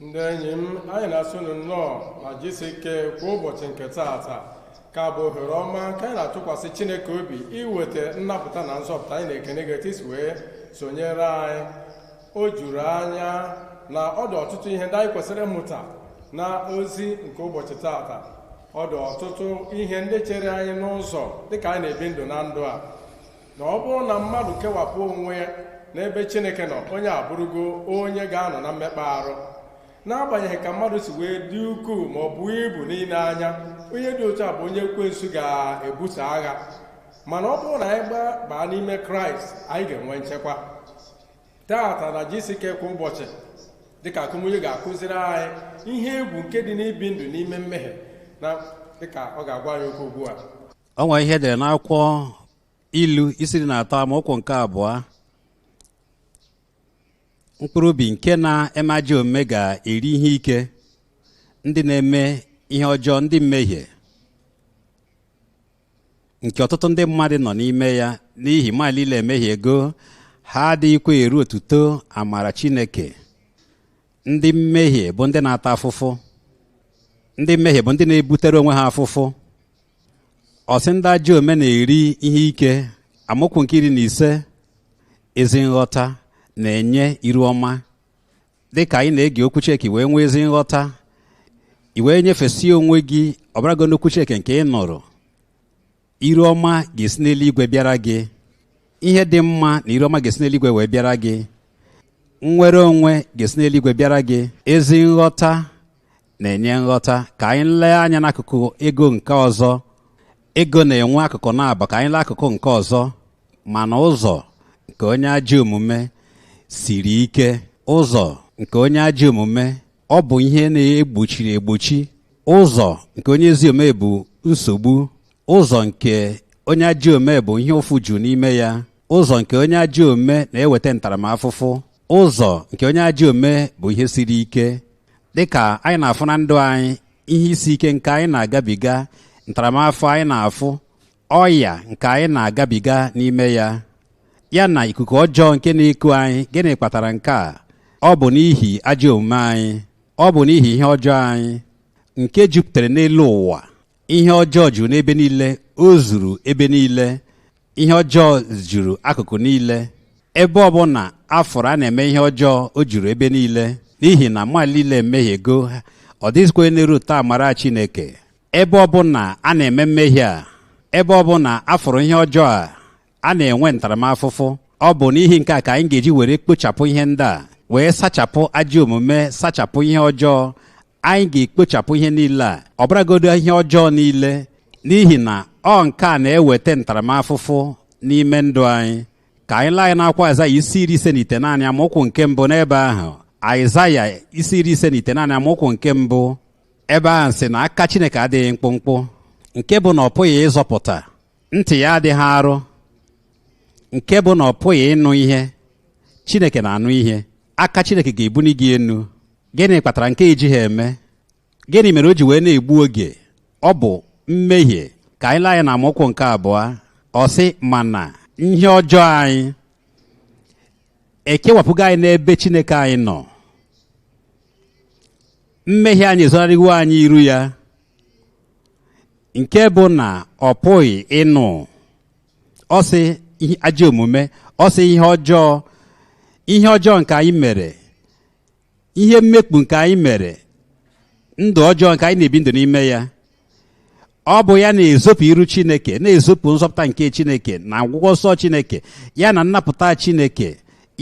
ndị enyi m anyị na-asị unu nnọọ na jisi ike kwa ụbọchị nke taata ka bụ ohere ọma ka anyị na-atụkwasị chineke obi iweta nnapụta na nzọpụta anyị na-ekene gị etu isi wee sonyere anyị o juru anya na ọ dị ọtụtụ ihe ndị anyị kwesịrị ịmụta na ozi nke ụbọchị taata ọ dị ọtụtụ ihe ndị chere anyị n'ụzọ dịka anyị na-ebi ndụ na ndụ a na ọ bụrụ na mmadụ kewapụ onwe ya n'ebe chineke nọ onye abụrụgo onye ga-anọ na mmekpa arụ n'agbanyeghị ka mmadụ si wee dị ukwuu ma ọ bụ ibu n'ile anya onye dị otu a bụ onye ekwensu ga-ebuso agha mana ọ bụrụ na anyị gbabaa n'ime kraịst anyị ga-enwe nchekwa taata na jisike kwa ụbọchị dịka akụmunye ga-akụziri anyị ihe egwu nke dị n'ibi ndụ n'ime mmehie na dịka ọ ga-agwa anyị okwu ugbu a o nwere ihe e dere n'akwụkwọ ilu isi iri na atọ amaokwu nke abụọ mkpụrụ obi nke na-eme ajọ omume ga-eri ihe ike ndị na-eme ihe ọjọọ ndị mmehie nke ọtụtụ ndị mmadụ nọ n'ime ya n'ihi mmadụ niile emehiego ha adịghịkwa eru otuto amara Chineke ndị mmehie bụ ndị na-ata afụfụ ndị mmehie bụ ndị na-ebutere onwe ha afụfụ ọ sị ndị ajọ omume na-eri ihe ike amaokwu nke iri na ise ezi nghọta na-enye iru ọma dị ka anyị na-ege okwu Chineke wee nwee ezi nghọta i wee nyefesie onwe gị ọbarago n'okwu Chineke nke ị nụrụ iru ọma ga-esi n'eluigwe bịara gị ihe dị mma na iru ọma ga-esi n'eluigwe wee bịara gị nnwere onwe ga-esi n'eluigwe bịara gị ezi nghọta na-enye nghọta ka anyị lee anya n'akụkụ ego nke ọzọ ego na-enwe akụkụ naabọ ka anyị lee akụkụ nke ọzọ mana ụzọ nke onye ajọ omume siri ike ụzọ nke onye ajọ omume ọ bụ ihe na-egbochiri egbochi ụzọ nke onye ezi omume bụ nsogbu ụzọ nke onye ajọ omume bụ ihe ụfụ juru n'ime ya ụzọ nke onye ajọ omume na-eweta ntaramafụfụ ụzọ nke onye ajọ omume bụ ihe siri ike dị ka anyị na-afụ na ndụ anyị ihe isi ike nke anyị na-agabiga ntaramafụfụ anyị na-afụ ọya nke anyị na-agabiga n'ime ya ya na ikuku ọjọọ nke na-eku anyị gịnị kpatara nke a ọ bụ n'ihi ajọ omume anyị ọ bụ n'ihi ihe ọjọọ anyị nke jupụtara n'elu ụwa ihe ọjọọ juru n'ebe niile o zuru ebe niile ihe ọjọọ juru akụkụ niile ebe ọbụla a fụrụ a na-eme ihe ọjọọ o juru ebe niile n'ihi na mmadụ niile emehiego ọ dịghịzikwa onye na-eruta amara chineke ebe ọbụla a na-eme mmehie a ebe ọbụla a fụrụ ihe ọjọọ a a na-enwe ntaramafụfụ ọ bụ n'ihi nke a ka anyị ga-eji were kpochapụ ihe ndị a wee sachapụ ajọ omume sachapụ ihe ọjọọ anyị ga-ekpochapụ ihe niile a ọ bụrụgodo ihe ọjọọ niile n'ihi na ọ nke a na-eweta ntaramafụfụ n'ime ndụ anyị ka anyị lee anya n'akwụkwọ aịzaya isi iri ise na itenaanị amaokwu nke mbụ n'ebe ahụ aịzaya isi iri ise na itenaanị amaokwu nke mbụ ebe ahụ sị na aka chineke adịghị mkpụmkpụ nke bụ na ọ pụghị ịzọpụta ntị ya adịghị arụ nke bụ na ọ pụghị ịnụ ihe chineke na-anụ ihe aka chineke ga-ebuni gị enu gịnị kpatara nke ejighị eme gịnị mere o ji wee na-egbu oge ọ bụ mmehie ka anyị lee anya na amaokwu nke abụọ ọ sị mana ihe ọjọọ anyị ekewapụgo anyị n'ebe chineke anyị nọ mmehie anyị ezonarịwo anyị iru ya nke bụ na ọ pụghị ịnụ ọ sị ajọ omume ọ sị ihe ọjọọ ihe ọjọọ nke anyị mere ihe mmekpu nke anyị mere ndụ ọjọọ nke anyị na-ebi ndụ n'ime ya ọ bụ ya na-ezopụ iru chineke na-ezopụ nzọpụta nke chineke na ọgwụgwọ nsọ chineke ya na nnapụta chineke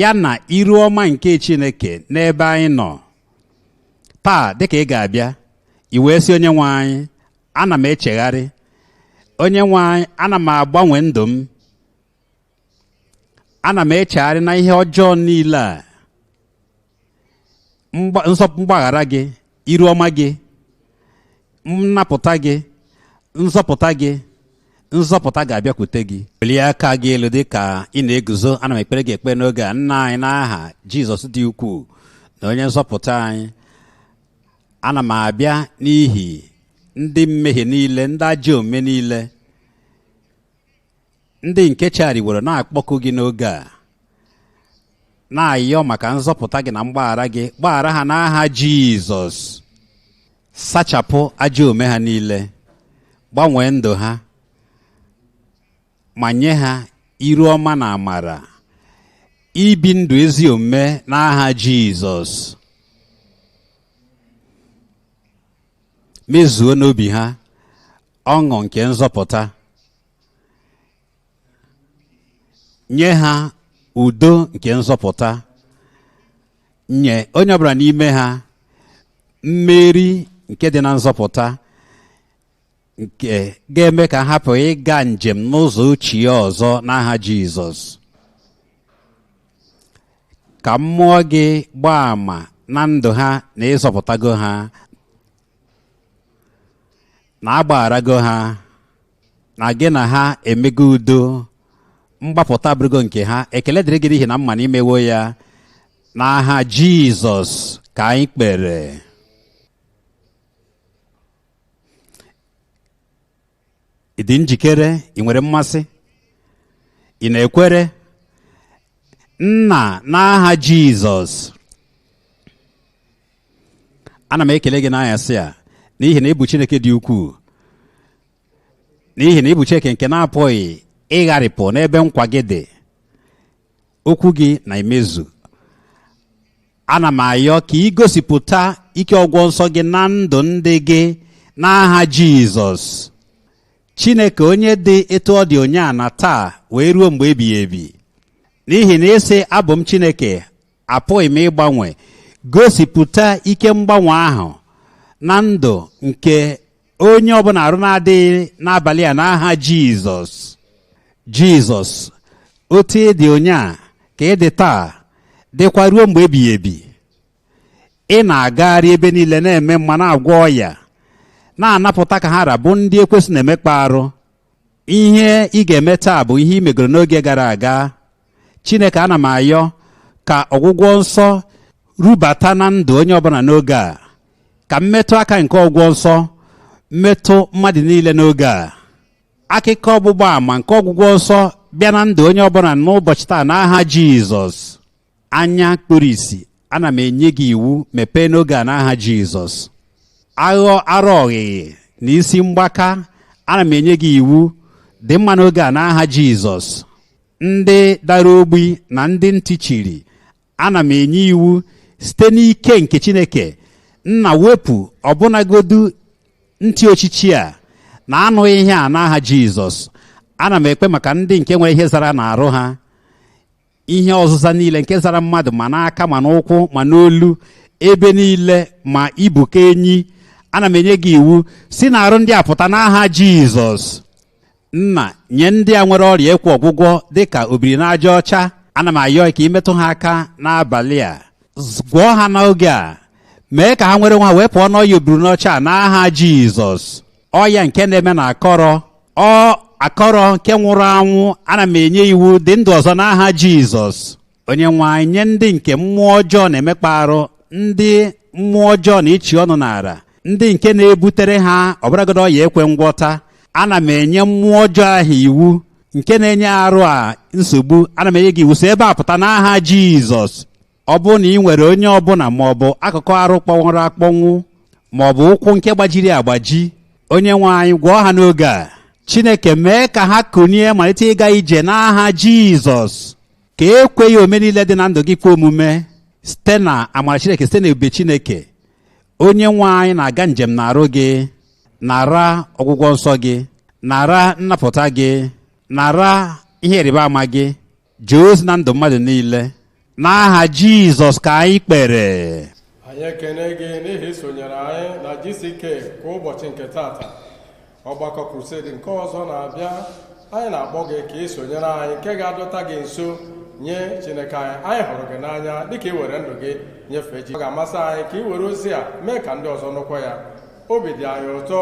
ya na iru ọma nke chineke n'ebe anyị nọ taa dịka ị ga-abịa i wee sị onye nwe anyị ana m echegharị onye nwe anyị ana m agbanwe ndụ m ana m echegharị na ihe ọjọọ niile a mgbaghara gị iru ọma gị nnapụta gị nzọpụta gị nzọpụta ga-abịakwute gị welie aka gị elu dị ka ị na-eguzo ana m ekpere gị ekpe n'oge a nna anyị n'aha jizọs dị ukwuu na onye nzọpụta anyị ana m abịa n'ihi ndị mmehie niile ndị ajọ omume niile ndị nke chegharịworo na-akpọku gị n'oge a na-ayọ maka nzọpụta gị na mgbaghara gị gbaghara ha n'aha jizọs sachapụ ajọ omume ha niile gbanwee ndụ ha ma nye ha iru ọma na amara ibi ndụ ezi omume n'aha jizọs mezuo n'obi ha ọṅụ nke nzọpụta nye ha udo nke nzọpụta nye onye ọbụla n'ime ha mmeri nke dị na nzọpụta nke ga-eme ka ha hapụ ịga njem n'ụzọ ochie ọzọ n'aha Jizọs ka mmụọ gị gbaa àmà na ndụ ha na ị zọpụtago ha na agbagharago ha na gị na ha emego udo mgbapụta abụrụgo nke ha ekele dịrị gị n'ihi na m ma na i mewo ya n'aha jizọs ka anyị kpere ị dị njikere ị nwere mmasị ị na-ekwere nna n'aha jizọs ana m ekele gị n'anyasị a n'ihi na ị bụ chineke dị ukwuu n'ihi na ị bụ chineke nke na-apụghị ịgharịpụ n'ebe nkwa gị dị okwu gị na-emezu ana m ayọ ka ị gosipụta ike ọgwọ nsọ gị na ndụ ndị gị n'aha jizọs chineke onye dị etu ọ dị ụnyaa na taa wee ruo mgbe ebighị ebi n'ihi na ị sị abụ m chineke apụghị m ịgbanwe gosipụta ike mgbanwe ahụ na ndụ nke onye ọbụla arụ na-adịghị n'abalị a n'aha jizọs jizọs otu ị dị ụnyaa ka ị dị taa dịkwa ruo mgbe ebighị ebi ị na-agagharị ebe niile na-eme mma na-agwọ ọya na-anapụta ka ha ra bụ ndị ekwensu na-emekpa arụ ihe ị ga-eme taa bụ ihe ị megoro n'oge gara aga chineke ana m ayọ ka ọgwụgwọ nsọ rubata na ndụ onye ọbụla n'oge a ka mmetụ aka nke ọgwụgwọ nsọ metụ mmadụ niile n'oge a akụkọ ọgbụgba ama nke ọgwụgwọ nsọ bịa na ndụ onye ọbụla n'ụbọchị taa n'aha jizọs anya kpuru isi ana m enye gị iwu mepee n'oge a n'aha jizọs aghọ ara ọghịghị na isi mgbaka ana m enye gị iwu dị mma n'oge a n'aha jizọs ndị dara ogbi na ndị ntị chiri ana m enye iwu site n'ike nke chineke nna wepụ ọbụnagodu ntị ochichi a na-anụghị ihe a n'aha jizọs ana m ekpe maka ndị nke nwere ihe zara n'arụ ha ihe ọzụza niile nke zara mmadụ ma n'aka ma n'ụkwụ ma n'olu ebe niile ma ibu ka enyi ana m enye gị iwu si n'arụ ndị a pụta n'aha jizọs nna nye ndị a nwere ọrịa ekwe ọgwụgwọ dịka obiri n'aja ọcha ana m ayọ ka i metụ ha aka n'abalị a gwọọ ha n'oge a mee ka ha nwere onwe ha wee pụọ n'ọya obiri n'ọcha a n'aha jizọs ọya nke na-eme na akụrụ ọ akụrụ nke nwụrụ anwụ ana m enye iwu dị ndụ ọzọ n'aha jizọs onye nwe anyị nye ndị nke mmụọ ọjọọ na-emekpa arụ ndị mmụọ ọjọọ na-echi ọnụ n'ala ndị nke na-ebutere ha ọ bụrụgodi ọya ekwe ngwọta ana m enye mmụọ ọjọọ ahụ iwu nke na-enye arụ a nsogbu ana m enye gị iwu si ebe a pụta n'aha jizọs ọ bụrụ na i nwere onye ọbụla ma ọ bụ akụkụ arụ kpọnwụrụ akpọnwụ ma ọ bụ ụkwụ nke gbajiri agbaji onye nwe anyị gwọọ ha n'oge a chineke mee ka ha kunie malite ịga ije n'aha jizọs ka ekweghị ome niile dị na ndụ gị kwe omume site na amara chineke site na ebube chineke onye nwe anyị na-aga njem n'arụ gị nara ọgwụgwọ nsọ gị nara nnapụta gị nara ihe ịrịba ama gị jee ozi na ndụ mmadụ niile n'aha jizọs ka anyị kpere anyị ekene gị n'ihi isonyere anyị na GCK kwa ụbọchị nke taata ọgbakọ krusedi nke ọzọ na-abịa anyị na-akpọ gị ka i sonyere anyị nke ga-adọta gị nso nye chineke anyị anyị hụrụ gị n'anya dịka i were ndụ gị nyefee chi ọ ga-amasị anyị ka i were ozi a mee ka ndị ọzọ nụkwa ya obi dị anyị ụtọ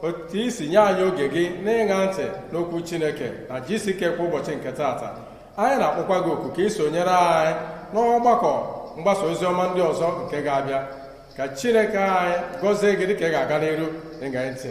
otu i si nye anyị oge gị n'ịṅa ntị n'okwu chineke na GCK kwa ụbọchị nke taata anyị na-akpọkwa gị oku ka i sonyere anyị n'ọgbakọ mgbasa ozi ọma ndị ọzọ nke ga-abịa ka chineke anyị gọzie gị dịka ị ga-aga n'iru ịṅa ntị